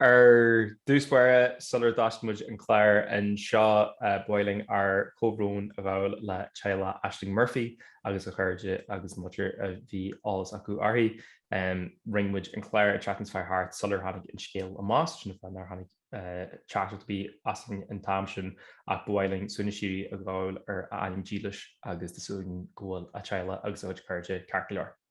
Ar dtús báire, sula dtosaíonn muid an clár anseo, ba mhaith linn ár gcomhbhrón a ghabháil le teaghlach Ashling Murphy agus a cairde agus achan duine a bhí eolas acu uirthi. Rinne muid an clár an tseachtain seo a chuaigh thart sular tháinig an scéal amach, sin an fáth nár tháinig teachtaireacht ar bith asainn an t-am sin ach ba mhaith linn suaimhneas síoraí a ghabháil ar a hanam dílis agus tá súil againn go bhfuil a teaghlach agus a cuid cairde ceart go leor.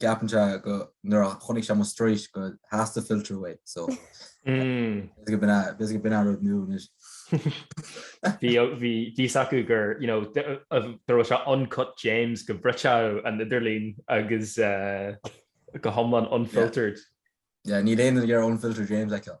gceapann sé go, nuair a chonaic sé mo straois go dteastódh filter uaidh so bheadh go b'in bheadh go b'in a' rud nua anois. Bhí bhí a fhios acu gur you know dá dá mbeadh sé uncut James go mbrisfeadh an idirlíon agus go hiomlán unfiltered. Yeah níl aon duine ag iarraidh unfiltered James a fheiceáil.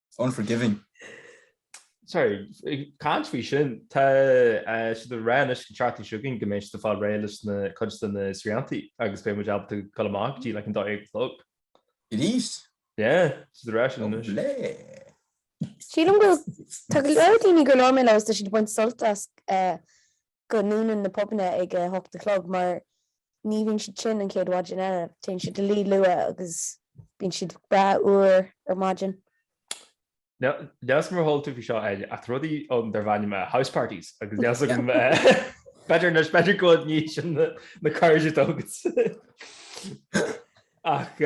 Unforgiving. Sorry, ag caint faoi sin, tá eh, siad a rá anois go an tseachtain seo chugainn go mbeidh siad a fáil réidh leis na cuid de na sriantaí agus beidh muid ábalta gabháil amach go dtí an dó dhéag a chlog. It is. Yeah, siad a rá sin anois. Lé. Sílim go tá go leor daoine go leor a labhair mé leo tá siad a bhaint sult as eh, go ndúnann na pubanna ag a hocht a chlog mar ní bhíonn siad tinn an chéad mhaidin eile. Téann siad a luí luath agus bíonn siad breá úr ar maidin. Níl a fhios agam ar chuala tú faoi seo ach tá rudaí ann darb ainm house parties agus níl a fhios agam b'fheidir anois b'fheidir go bhfuil tú róshean do na cairde dóibh ach.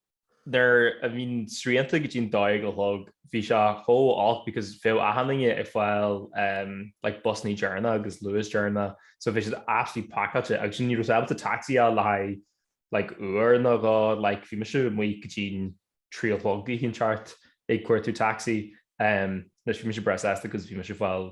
nuair a bhí na srianta go dtí an dó dhéag a chlog bhí sé chomh olc because bheadh achan nduine ag fáil em like bus deireanach agus Luas deireanach so bhí siad absolutely pacáilte agus ní raibh tú ábalta taxi a fháil le haghaidh like uair nó dhó like bhí mise amuigh go dtí an trí a chlog ag gabháil thart ag cuartú taxi em leis bhí mise préachta agus bhí mise fáil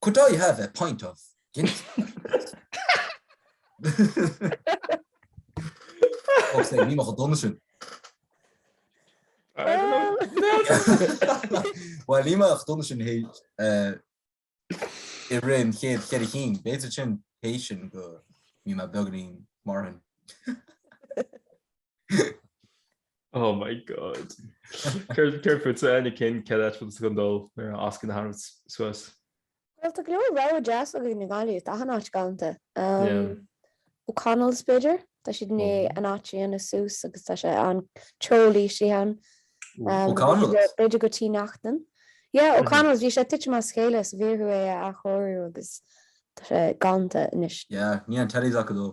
Could I have a pint of Guinness? Bhuel ní bheadh, déanaim é sin i rith an chéad cheithre cinn, b'fhéidir tar éis sin go mbíonn mé beagáinín mórtasach. Oh my god. Céard fútsa na cinn cén áit fútsa gcondol nuair a fhascann a tharraingt suas. Bhuel tá go leor rogha deas againn i nGaillimh, tá achan áit galanta. O'Connell's b'fhéidir, tá siad i ndiaidh an áit a dhéanamh suas agus tá sé an-cheol istigh ann. O'Connell's? B'fhéidir go Tí Neachtain. Yeah O'Connell's, bhí sé tite as a chéile is bhí orthu é a athchóiriú agus tá sé galanta anois. Yeah, níl an teilifís acu dó.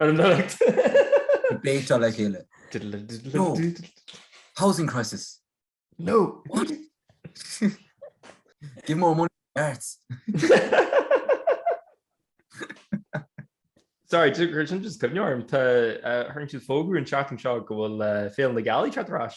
Ar an deireadh. Go bpéinteáil le chéile. No. Housing crisis. No. What? Give more money to the arts. Sorry, sin just cuimneoir. Tá siad tar éis fógairt an seachtain seo go bhfuil féile na Gealaí ag teacht ar ais.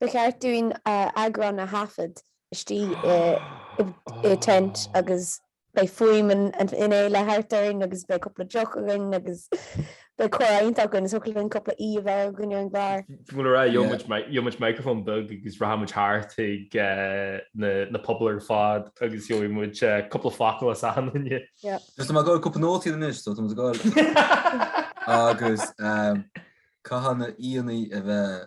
Ba cheart dúinn eagrán a thaifead istigh i tent agus beidh fuaim na féile thart orainn agus beidh cúpla deoch againn agus beidh comhrá iontach againn. Is thiocfadh linn cúpla aoi a bheith againn ar an gclár. Bhuel ar aghaidh, gheobhaidh muid micreafón beag agus rachaidh muid thart chuig na pubaill ar fad agus gheobhaidh muid cúpla focal as achan duine. Is tá mé ag gabháil cúpla nótaí anois so tá muid ag gabháil agus caithfidh na haíonna a bheith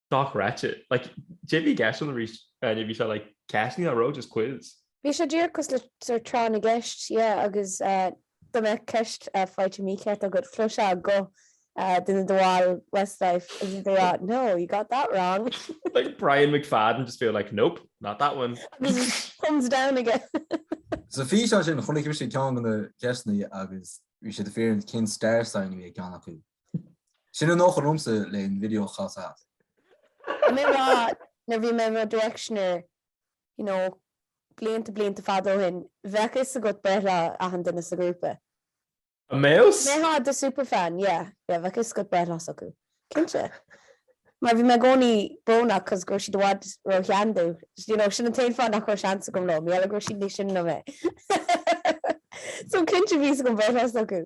Sách ráite. Like, bhí mé ag éisteacht arís ann, bhí sé like, ceisteanna á rá, just quiz. Bhí sé díreach cosúil le sort tráth na gceist, yeah, agus dá mbeadh ceist faighte mícheart agat, chloisfeá guth de na baill Westlife agus iad ag rá, no, you got that wrong. Like Brian McFadden just being like, nope, not that one. Agus thumbs down aige. Sa físeán sin, chonaic mise ceann de na ceisteanna agus bhí sé dáiríre cén star sign a bhí ag ceann acu. Ní n-éireochadh liomsa leis an video cha sa hat. Tá mé ag rá nuair a bhí mé mo directioner you know blianta blianta fada ó shin bheadh fhios agat breithlá achan duine sa ghrúpa. An mbeadh a fhios? Dá mbeifeá i do super fan yeah yeah bheadh fhios agat breithlá s'acu cinnte mar bhí mé i gcónaí brónach cos go raibh siad i bhfad róshean dom you know sin an t-aon fáth nach raibh seans agam leo mar gheall go raibh siad níos sine ná mé so cinnte bhí a fhios agam breithlá s'acu.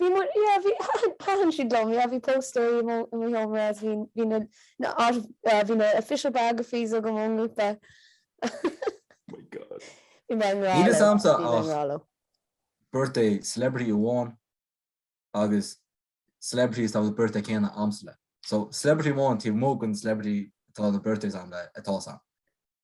Bhí mo, yeah, bhí, thaitin siad liom, yeah, bhí póstaerí i mo sheomra agus bhí na, na, bhí na official biographies agam ón ngrúpa. Oh my God. Bhí mé i ngrá leo. Níl fhios a'msa ach birthday celebrity amháin agus celebrities a bhfuil an birthday céanna a'msa le. So, celebrity amháin taobh amuigh den celebrity atá na birthdays a'm le atá sam.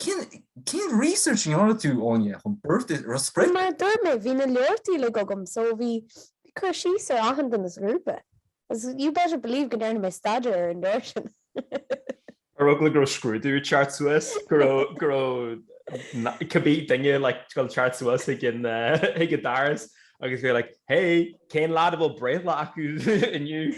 Cén research a dhéanfaidh tú, Áine, chun breith ar do sprioc? Mar a dúirt mé, bhí na leabhartaí uilig agam so bhí cur síos ar achan duine sa ghrúpa. Agus you better believe go ndearna mé staidéar ar an leabhar sin. Ar eagla go raibh scrúdú ag teacht suas, go raibh, go raibh cibé duine like ag teacht suas ag an ag an doras agus bhí like hey, cén leaid a bhfuil breithlá aige inniu?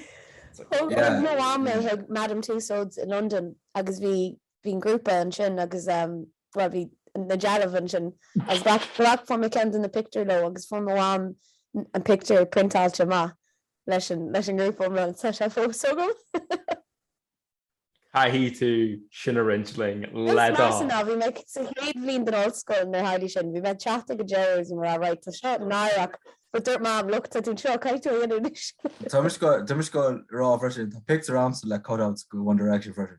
Thug mo mham mé chuig Madame Tussauds i Londain agus bhí bhí an grúpa ansin agus bhuel bhí na dealbh ansin agus ghlac fuair mé ceann de na pictiúir leo agus fuair mo mham an pictiúr priontáilte amach leis an leis an ngrúpa iomlán. Tá sé fós agam. Caithfidh tú sin a roinnt linn le Is measa do. ná bhí mé sa chéad bhliain den ollscoil nuair a tharlaigh sin. Bhí mé ag teacht ag an deireadh agus bhí mé like tá seo náireach but dúirt mam look tá tú anseo caithfidh tú é dhéanamh anois. Tá mé díreach tá mé ag goil a rá freisin tá pictiúir agamsa le cutouts de One Direction freisin.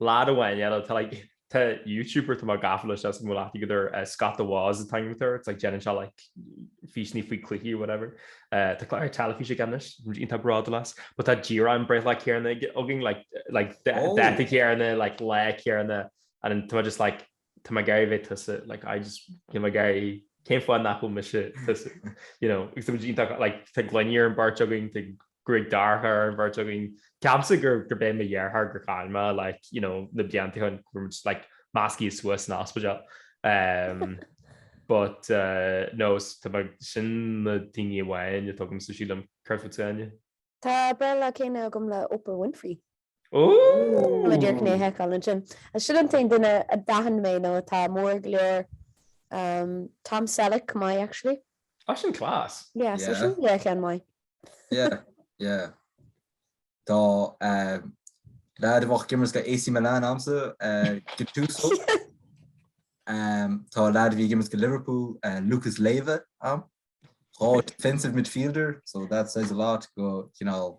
Lad amháin eile tá like tá youtuber tá mé gafa leis agus an bhfuil aithne agat air eh, Scott the Woz a thugann tú air it's like déanann sé like físeanna faoi cluichí whatever eh, tá clár ar teilifís aige anois agus tá mé iontach bródúil as but tá díreach an breithlá céanna againn like like da- oh. dáta céanna like lá céanna and then tá mé just like tá mé ag iarraidh bheith tusa, like I just, you know, ag iarraidh, cén fáth nach bhfuil mise tusa, you know, agus tá muid iontach, like tá gloiní ar an bheirt againn, tá gruaig dorcha ar an bheirt againn. Ceapaimse gur gur b'é mo dheartháir gur chaill mé, like, you know, na blianta seo go raibh muid, like, measctha suas san ospidéal. Um, but, uh, no, s- tá mé- sin na daoine amháin atá agamsa sílim, céard fútsa, Áine? Tá breithlá céanna agam le Oprah Winfrey. Ooh! An dtarraingeoidh tú anuas é sin. Sin an t-aon duine a d'aithin mé nó atá mór go leor um Tom Selleck chomh maith actually. Á sin class! Yeah so sin go leor ceann maith. Yeah yeah Tá um leaid a bheadh ag imirt do AC Milan a'msa uh Gattuso um tá leaid a bhí ag imirt do Liverpool uh Lucas Leiva a'm. Dhá defensive midfielder so that says a lot go cineál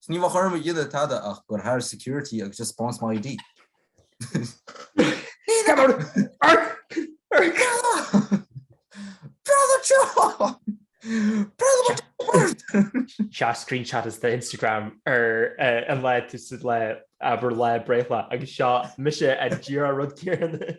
Is ní mbeadh orm a dhéanamh tada ach goil thar security agus just spáinnt mo ID. Scannáin! Ar! Ar! Brother John! Brother what the word! Sea screenshot is the Instagram ar eh, an lá tusa le abair lá breithe agus seo mise díreach an rud céanna.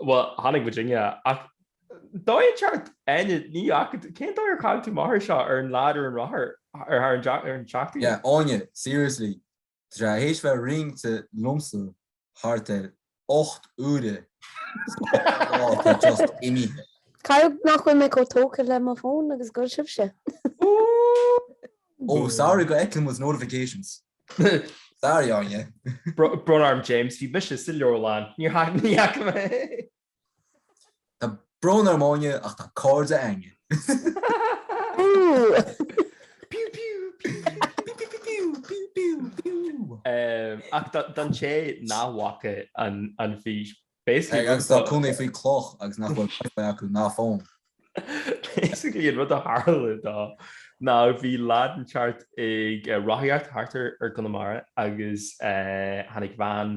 Bhuel tháinig Virginia ach dóigh cheart Áine ní ach cén dóigh ar chac tú a mháthair seo ar an leaid úr an rothar ar tharla an eachtra? Yeah, Áine, seriously, tá sé th'éis bheith roinnte liomsa thart ar ocht uaire sa lá atá just imithe. Caithfidh nach bhfuil mé chomh tógtha le mo fón agus go bhfuil sibhse. Oh sorry go bhfeicim was notifications sorry Áine. Brón orm James, bhí mise sa leabharlann, níor theacht mé. Tá brón orm Áine ach tá cairde a'inne. Ach daoibhse nach bhfaca an fís. Atá ina gcónaí faoi chloch agus nach bhfuil Wi-Fi acu ná fón. Basically an rud a tharla though ná bhí leaid ag dul thart ag rothaíocht thart ar Conamara agus tháinig veain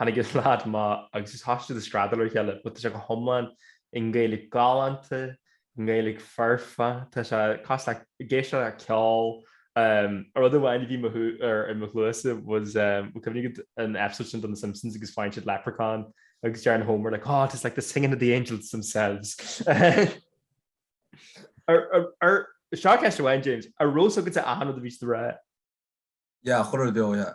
Tháinig an leaid amach agus thosaigh siad ag screadaíl ar a chéile but tá sé go hiomlán i nGaeilge galánta, i nGaeilge foirfe, tá sé cosúil le ag éisteacht le ceol. Rud amháin a bhí mo shú ar i mo chluasa was cuimhnigh an episode sin den Simpsons agus faigheann siad leprechaun agus deireann Homer like, oh, it's like the singing of the angels themselves. Seo ceist amháin James an raibh a fhios agat a ahanana a bhí ré? Ja chur beo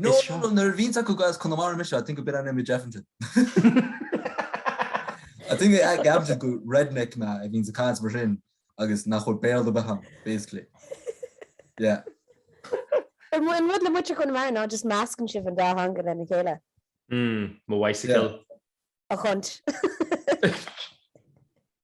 No Is no seo- no nuair a bhíonns a fhios acu gur as Conamara mise I think a bit an image Evanton. I think they act Evanton gur redneck mé a bhíonns ag caint mar sin agus nach bhfuil Béarla ar bith a'm basically. Yeah. Ar mu- an rud le muintir Chonamara ná just meascann sibh an dá theanga lena chéile. Mm, mo bhicycle. A chunt.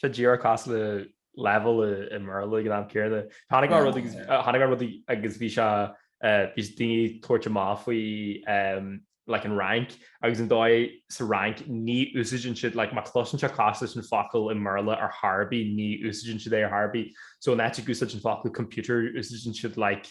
Sé díreach cosúil le leibhéal i mBéarla ag an am céanna. Chonaic mé rud chonaic mé rud agus bhí sé bhí daoine ag tabhairt amach faoi like an Fhrainc agus an dóigh sa Fhrainc ní úsaideann siad like má chloiseann sé cosúil leis an focal i mBéarla ar chor ar bith ní úsaideann siad é ar chor ar bith. So in áit ag úsáid an focal computer úsaideann siad like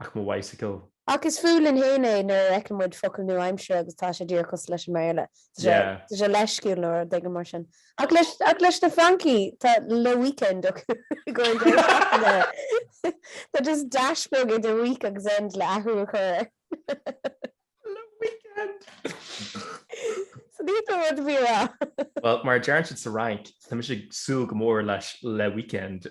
ach mo bhicycle. Ach is fuath linn fhéin é nuair a fheiceann muid focal nua-aimseartha agus tá sé díreach cosúil leis an mBéarla. Tá sé leisciúil nó rud éigin mar sin. Ach leis na Francaigh, tá le week-end acu i gcónaí. Tá just dash beag idir week agus end le athrú a chur air. Le week-end! So níl rud ar bith le rá. Well, mar deireann siad sa Fhrainc, tá mise ag súil go mór leis le week-end.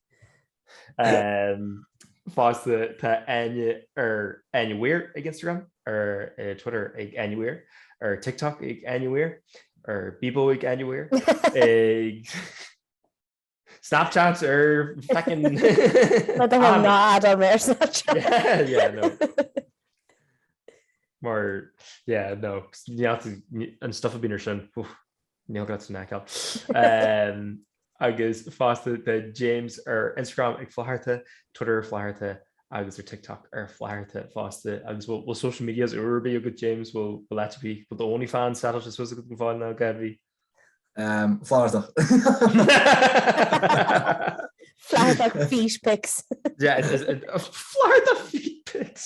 Fosta tá Áine ar Áine Weir ag Instagram, ar eh, Twitter ag Áine Weir, ar TikTok ag Áine Weir, ar Bebo ag Áine Weir, ag Snapchat ar feckin... Na do hon ná add-áil mé ar Snapchat. yeah, no. Mar, yeah, no, ní an stuff a bíonn air sin. Úf. Níl go raibh tú in aiceal. Agus fosta tá James ar Instagram ag Flaithearta, Twitter ar Flaithearta agus ar TikTok ar Flaithearta fosta. Agus bhfuil social medias úr ar bith agat James? Bhfuil áit ar bith, bhfuil do OnlyFans set up I suppose agat go fóill ná gá ar bith? Flaitheartach. Flaitheartach feet pics. Flaitheartach feet pics!